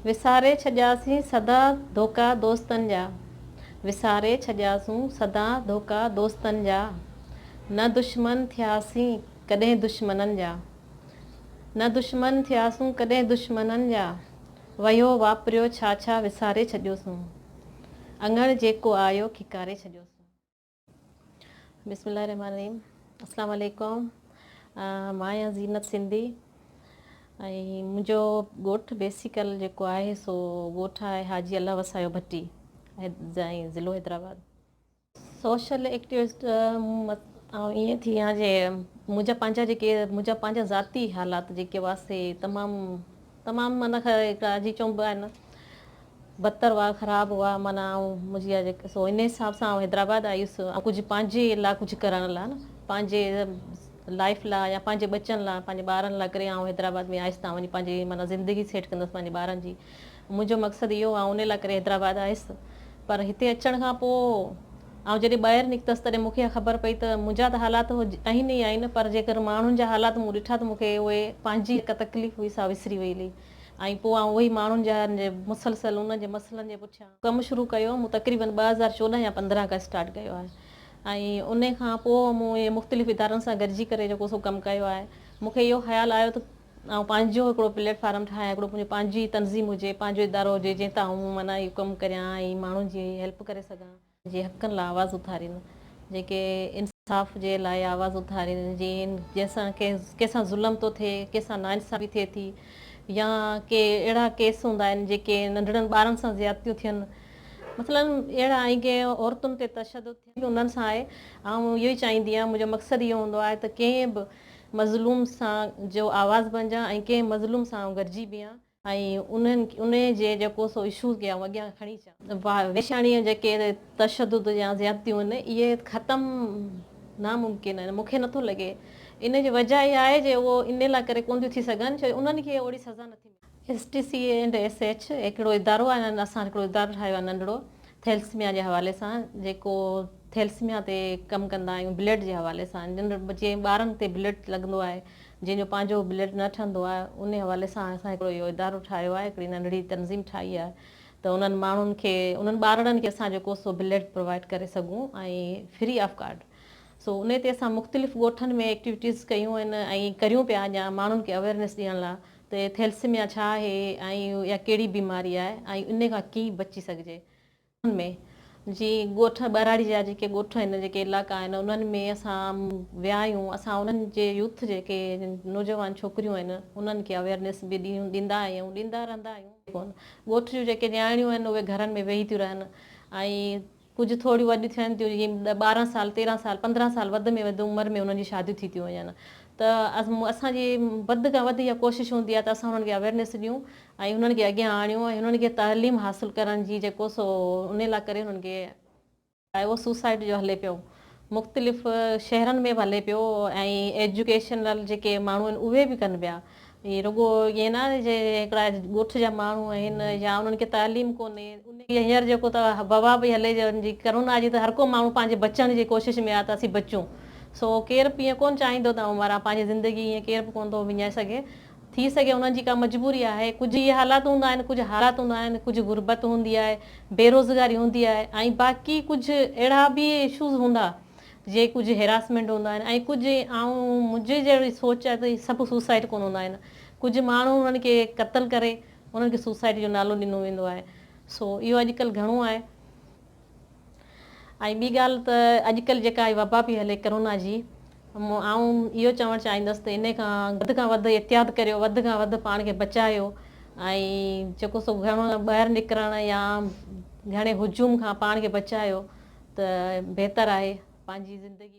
وساري ڇڏياسين سدا ڌوڪا دوستن جا وساري ڇڏياسون سدا ڌوڪا دوستن جا نه دشمن ٿياسين ڪڏهن دشمنن جا نه دشمن ٿياسون ڪڏهن دشمنن جا وهيو واپريو ڇا ڇا وساري ڇڏيوسون اڱڻ جيڪو آيو کيڪاري ڇڏيوسون. بسم الله الرحمٰن الرحيم اسلام عليڪم مان آهيان زينت سنڌي ۽ منهنجو ڳوٺ بيسيڪل جيڪو آهي سو ڳوٺ آهي حاجي الله وسايو ڀٽي ۽ ضلعو حيدرآباد سوشل ايڪٽيوسٽ آئون ائين ٿي آهيان جي منهنجا پنهنجا جيڪي منهنجا پنهنجا ذاتي حالات جيڪي هئا سي تمام تمام معنيٰ هڪ جي چونبو آهي نه بدتر هئا خراب هئا معنيٰ آئون منهنجي جيڪي سو ان حساب سان آئون حيدرآباد آيس ڪجهه پنهنجي لا ڪجهه ڪرڻ لا نه پنهنجي لائف لا يا پنهنجي ٻچن لا پنهنجي ٻارن لا ڪري آئون حيدرآباد ۾ آيس تان وڃي پنهنجي معنيٰ زندگي سيٽ ڪندس پنهنجي ٻارن جي منهنجو مقصد اهو آئون ان لا ڪري حيدرآباد آيس پر هتي اچڻ کان پوء آئون جڏهن ٻاهر نڪتس تڏهن مون کي اها خبر پئي ته منهنجا ته حالات آهن ئي آهن پر جيڪر ماڻهن جا حالات مون ڏٺا ته مون کي اهي پنهنجي جيڪا تڪليف هئي سا وسري وئي هلي ۽ پوء آئون اهي ماڻهن جا مسلسل انهن جي مسئلن جي پٺيان ڪم شروع ڪيو مون تقريبن ٻه هزار چوڏهن يا پندرهن کان اسٽارٽ ڪيو آهي ۽ انهي کان پوء مون اهي مختلف ادارن سان گڏجي ڪري جيڪو سو ڪم ڪيو آهي مون کي اهو خيال آيو ته آئون پنهنجو هڪڙو پليٽ فارم ٺاهيان، هڪڙو منهنجو پنهنجي تنظيم هجي، پنهنجو ادارو هجي، جنهن تان آئون معنيٰ اهو ڪم ڪريان ۽ ماڻهن جي هيلپ ڪري سگهان. جي حقن لاء آواز اٿارين، جيڪي انصاف جي لاء آواز اٿارين، جين جنهن سان ڪنهن سان ظلم ٿو ٿئي، ڪنهن سان ناانصافي ٿئي ٿي يا ڪي اهڙا ڪيس هوندا آهن جيڪي ننڍڙن ٻارن سان زيادتيون ٿين مثلاً اهڙا ۽ ڪي عورتن تي تشدد ٿين. انهن سان آهي آئون اهو ئي چاهيندي آهيان منهنجو مقصد اهو هوندو آهي ته ڪنهن به مظلوم سان جو آواز بنجان ۽ ڪنهن مظلوم سان آئون گڏجي بيهان ۽ انهن جي جيڪو سو اشوز ڪي آئون اڳيان کڻي اچان. ويشاڻي جيڪي تشدد يا زيادتيون آهن اهي ختم ناممڪن آهن مونکي نٿو لڳي ان جي وجه اها آهي جي اهو ان لاء ڪري ڪون ٿيون ٿي سگهن ڇو جو انهن کي اوڙي سزا نٿي ملي. S T C and S H هڪڙو ادارو آهي اسان هڪڙو ادارو ٺاهيو آهي ننڍڙو ٿيلسميا جي حوالي سان جيڪو ٿيلسميا تي ڪم ڪندا آهيون بلڊ جي حوالي سان جي ٻارن تي بلڊ لڳندو آهي جنهن جو پنهنجو بلڊ نه ٺهندو آهي ان حوالي سان اسان هڪڙو اهو ادارو ٺاهيو آهي هڪڙي ننڍڙي تنظيم ٺاهي آهي ته انهن ماڻهن کي انهن ٻارڙن کي اسان جيڪو سو بلڊ پرووائيڊ ڪري سگهون ۽ فري آف ڪارڊ سو ان تي اسان مختلف ڳوٺن ۾ ايڪٽيوٽيز ڪيون آهن ۽ ڪريون پيا اڃا ماڻهن کي اويرنيس ڏيڻ لاء ته ٿيلسيميا ڇا آهي ۽ اها ڪهڙي بيماري آهي ۽ ان کان ڪيئن بچي سگهجي. ان ۾ جي ڳوٺ ٻهراڙي جا جيڪي ڳوٺ آهن جيڪي علائقا آهن انهن ۾ اسان ويا آهيون اسان انهن جي يوٿ جيڪي نوجوان ڇوڪريون آهن انهن کي اويرنيس به ڏيندا آهيون ۽ ڏيندا رهندا آهيون. ڳوٺ جون جيڪي نياڻيون آهن اهي گهرن ۾ ويهي ٿيون رهن ۽. ڪجهه ٿوريون وڏيون ٿين ٿيون جيئن ڏهه ٻارهن سال تيرهن سال پندرهن سال وڌ ۾ وڌ عمر ۾ انهن جي شاديون ٿي ٿيون وڃن ته اسان جي وڌ کان وڌ اها ڪوشش هوندي آهي ته اسان انهن کي اويرنيس ڏيون ۽ انهن کي اڳيان آڻيون ۽ انهن کي تعليم حاصل ڪرڻ جي جيڪو سو انهي لاء ڪري انهن کي اهو سوسائٽ جو هلي پيو مختلف شهرن ۾ به هلي پيو ۽ ايجوڪيشنل جيڪي ماڻهو آهن اهي به ڪن پيا ۽ رڳو ائين نه آهي جي هڪڙا ڳوٺ جا ماڻهو آهن يا انهن کي تعليم ڪونهي انهي هينئر جيڪو ته وبا پئي هلي جن جي ڪرونا جي ته هر ڪو ماڻهو پنهنجي بچڻ جي ڪوشش ۾ آهي ته اسين بچون سو ڪير به ائين ڪونه چاهيندو ته آئون مران پنهنجي زندگي ائين ڪير به ڪونه ٿو وڃائي سگهي ٿي سگهي انهن جي ڪا مجبوري آهي، ڪجهه اهي حالات هوندا آهن، ڪجهه حالات هوندا آهن، ڪجهه غربت هوندي آهي، بيروزگاري هوندي آهي ۽ باقي ڪجهه اهڙا به اشوز هوندا جي ڪجهه هيراسمينٽ هوندا آهن ۽ ڪجهه آئون منهنجي جهڙي سوچ آهي ته اهي سڀ سوسائيڊ ڪونه هوندا آهن، ڪجهه ماڻهو انهن کي قتل ڪري انهن کي سوسائيڊ جو نالو ڏنو ويندو آهي، سو اهو اڄڪلهه گهڻو آهي. ۽ ٻي ڳالهه ته اڄڪلهه جيڪا هي وبا پئي هلي ڪرونا جي آئون اهو چوڻ چاهيندس ته انهي کان وڌ کان وڌ احتياط ڪريو وڌ کان وڌ پاڻ کي بچايو ۽ جيڪو سو گهر مان ٻاهر نڪرڻ يا گهڻي هجوم کان پاڻ کي بچايو ته بهتر آهي پنهنجي زندگي